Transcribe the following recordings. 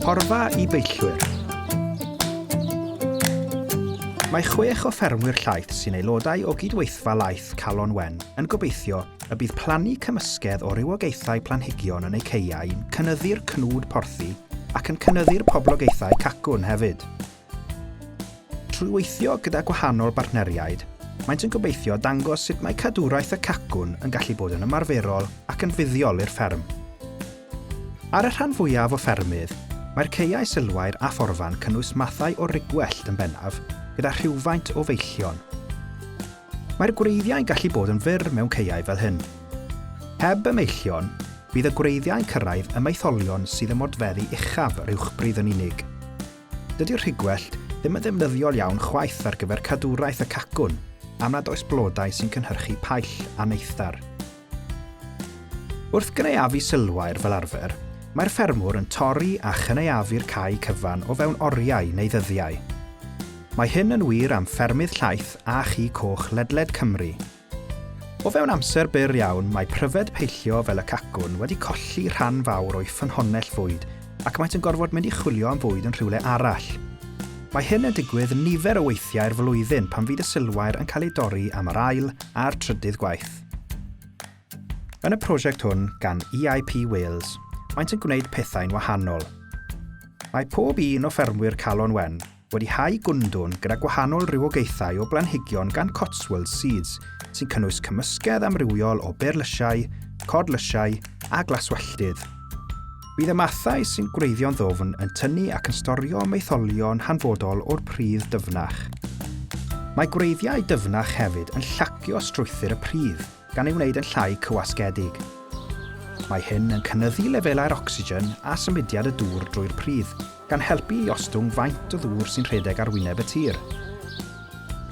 Porfa i beillwyr. Mae chwech o ffermwyr llaeth sy'n aelodau o gydweithfa laeth Calon Wen yn gobeithio y bydd plannu cymysgedd o rywogaethau planhigion yn eu caeau yn cynyddu'r cnwd porthi ac yn cynyddu'r poblogaethau cacwn hefyd. Trwy weithio gyda gwahanol bartneriaid, maent yn gobeithio dangos sut mae cadwraeth y cacwn yn gallu bod yn ymarferol ac yn fuddiol i'r fferm. Ar y rhan fwyaf o ffermydd, mae'r caeau sylfair a phorfa'n cynnwys mathau o rugwellt yn bennaf, gyda rhywfaint o feillion. Mae'r gwreiddiau'n gallu bod yn fyr mewn caeau fel hyn. Heb y meillion, bydd y gwreiddiau'n cyrraedd y maetholion sydd ym modfeddu uchaf yr uwchbridd yn unig. Dydy'r rhigwellt ddim yn ddefnyddiol iawn chwaith ar gyfer cadwraeth y cacwn am nad oes blodau sy'n cynhyrchu paill a neithdar. Wrth gynaeafu sylwair fel arfer, mae'r ffermwr yn torri a chynaeafu'r cae cyfan o fewn oriau neu ddyddiau. Mae hyn yn wir am ffermydd llaeth a chi coch ledled Cymru, O fewn amser byr iawn, mae pryfed peillio fel y cacwn wedi colli rhan fawr o'i ffynhonnell fwyd ac maent yn gorfod mynd i chwilio am fwyd yn rhywle arall. Mae hyn yn digwydd nifer o weithiau'r flwyddyn pan fydd y silwair yn cael ei dorri am yr ail a'r trydydd gwaith. Yn y prosiect hwn gan EIP Wales, maent yn gwneud pethau'n wahanol. Mae pob un o ffermwyr Calon Wen wedi hau gwndwn gyda gwahanol rywogaethau o blanhigion gan Cotswold Seeds, sy'n cynnwys cymysgedd amrywiol o berlysiau, codlysiau a glaswelltydd. Bydd y mathau sy'n gwreiddio'n ddofn yn tynnu ac yn storio maetholion hanfodol o'r pridd dyfnach. Mae gwreiddiau dyfnach hefyd yn llacio strwythur y pridd gan ei wneud yn llai cywasgedig. Mae hyn yn cynyddu lefelau'r ocsigen a symudiad y dŵr drwy'r pridd, gan helpu i ostwng faint o ddŵr sy'n rhedeg ar wyneb y tir.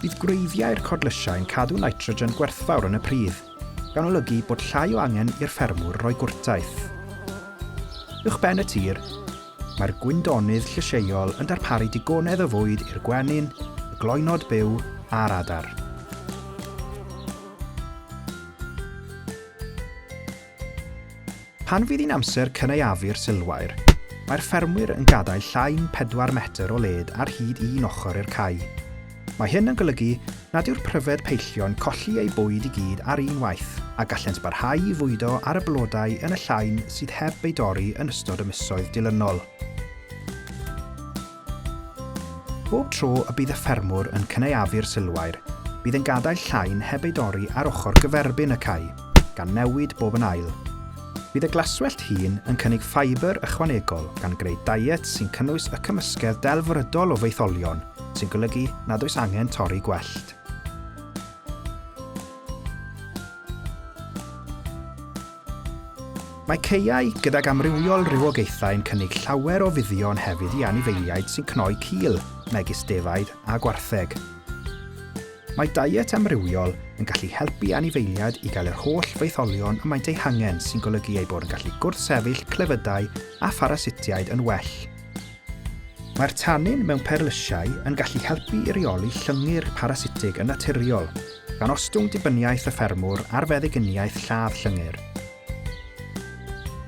Bydd gwreiddiau'r codlysiau yn cadw nitrogen gwerthfawr yn y pridd, gan olygu bod llai o angen i'r ffermwr roi gwrtaith. Uwchben y tir, mae'r gwyndonydd llysieuol yn darparu digonedd o fwyd i'r gwenyn, y gloenod byw a'r adar. Pan fydd hi'n amser cynaeafu'r silwair, mae'r ffermwyr yn gadael llain pedwar metr o led ar hyd un ochr i'r cae. Mae hyn yn golygu nad yw'r pryfed peillio'n colli eu bwyd i gyd ar un waith, a gallent barhau i fwydo ar y blodau yn y llain sydd heb eu dorri yn ystod y misoedd dilynol. Bob tro y bydd y ffermwr yn cynaeafu'r silwair, bydd yn gadael llain heb ei dorri ar ochr gyferbyn y cae, gan newid bob yn ail. Bydd y glaswellt hŷn yn cynnig ffibr ychwanegol gan greu daiet sy'n cynnwys y cymysgedd delfrydol o faetholion, sy'n golygu nad oes angen torri gwellt. Mae caeau gydag amrywiol rywogaethau yn cynnig llawer o fuddion hefyd i anifeiliaid sy'n cnoi cil, megis defaid a gwartheg. Mae diet amrywiol yn gallu helpu anifeiliaid i gael yr holl faetholion y maent eu hangen sy'n golygu eu bod yn gallu gwrthsefyll clefydau a pharasitiaid yn well. Mae'r tannin mewn perlysiau yn gallu helpu i reoli llyngyr parasitig yn naturiol, gan ostwng dibyniaeth y ffermwr ar feddyginiaeth lladd llyngyr.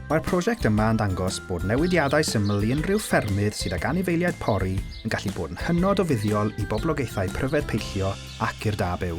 Mae'r prosiect yma yn dangos bod newidiadau syml i unrhyw ffermydd sydd ag anifeiliaid pori yn gallu bod yn hynod o fuddiol i boblogaethau pryfed peillio ac i'r da byw.